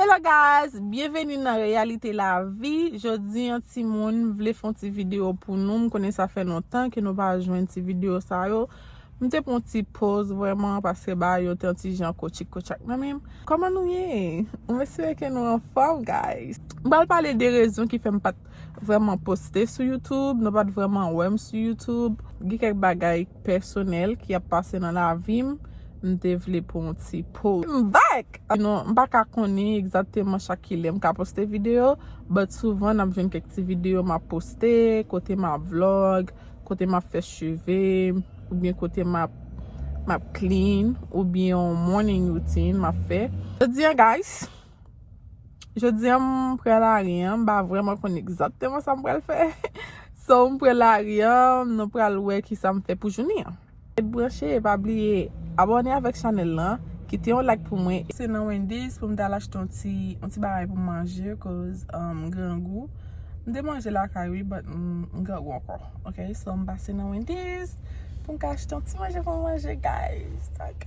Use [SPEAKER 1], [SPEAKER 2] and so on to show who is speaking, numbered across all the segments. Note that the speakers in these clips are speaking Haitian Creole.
[SPEAKER 1] Hello guys, byenveni nan Reyalite Lavi Jodi an ti moun vle fon ti video pou nou M konnen sa fè lontan ke nou pa jwenn ti video sa yo M te pon ti poz vwèman paske ba yo te yon ti jan kotchik kotchak nan menm Koman nou ye? M espere ke nou anfòm guys M pral pale de rezon ki fè m pat vreman poste sou youtube, nou pat vreman wè m sou youtube, gen kèk bagay pèsonèl ki ap pase nan lavi m, m te vle pou yon ti poz. M back! Sinon, m pa ka konnen egzakteman chak kilè m ka poste videyo, but souvan n ap jwenn kèk ti videyo m ap poste, kote m ap vlog, kote m ap fè cheve, oubyen kote m ap m ap clean, oubyen yon morning routine m ap fè. Jodi an guys. Jodi an m pre lari an, m pa vreman konn egzakteman sa m pral fè. So m pre lari an, nou pral wè kisa m fè pou jounen an. Ret branche e pa bliye abòne avèk chanèl lan, kite yon like pou mwen. Se nan Wendy's pou m t al achte yon ti yon ti bagay pou m manje koz m grangou. M te manje lakay wi but m grangou ankò ok. So m pase nan Wendy's pou m ka achte yon ti manje pou m manje guys ok.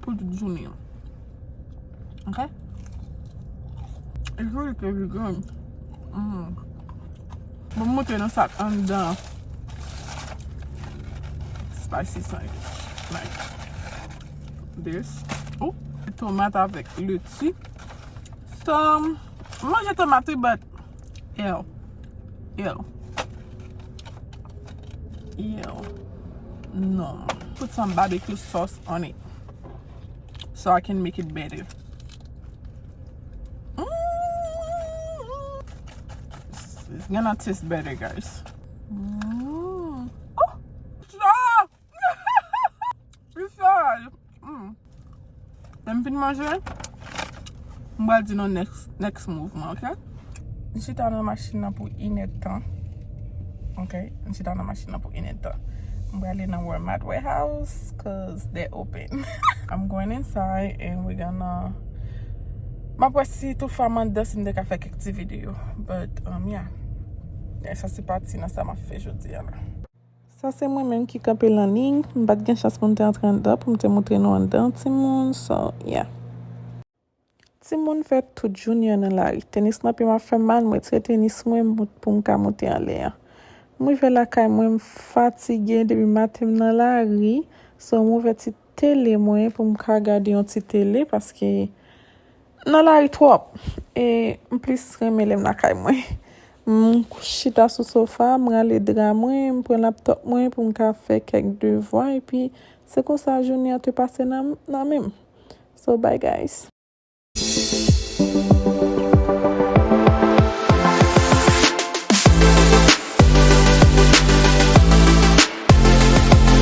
[SPEAKER 1] Pou tout jounen an. Ok. E joli ke li grann. Mou. Mou moute nan sak andan. Spicy sandwich. Like. This. Ou. Tomat avèk leti. Som. Manje tomat wi but. Yow Yow Yow Non Put some barbecue sauce on it So I can make it better It's gonna taste better guys Mmm Ohh Ahh Li saj. Humm. Lèm fin manje. M pral di nou next, next move mwen ok. M chita nan machin nan pou yn èd tan. Ok. M chita nan machin nan pou yn èd tan. M prale nan walmart warehouse cause they open. I'm going inside and we gonna Map wè si toufa m andan si m te ka fè kèk ti video. But, umm, yeah. Sa se pati nan sa map fè jodi a la. Sa se mwen menm ki kanpe lan liy m pat gen chans pou m te antre anndan pou m te moutre nou anndan timoun so yeah. Timoun fè tout jounen an nan lari tenis nan pye m ap fè m mal m retire tenis mwen pou m ka moute anlè an m rive lakay mwen m fatige depi maten m nan lari so m ouvè ti tele mwen pou m ka gade yon ti tele paske M nan lari twòp e m plis renmen lè m lakay mwen. M chita sou sofa, m rale dra mwen, m pran laptòp mwen pou m ka fè kèk devwa epi se konsa jounen an te pase nan nan men m. So bye guys.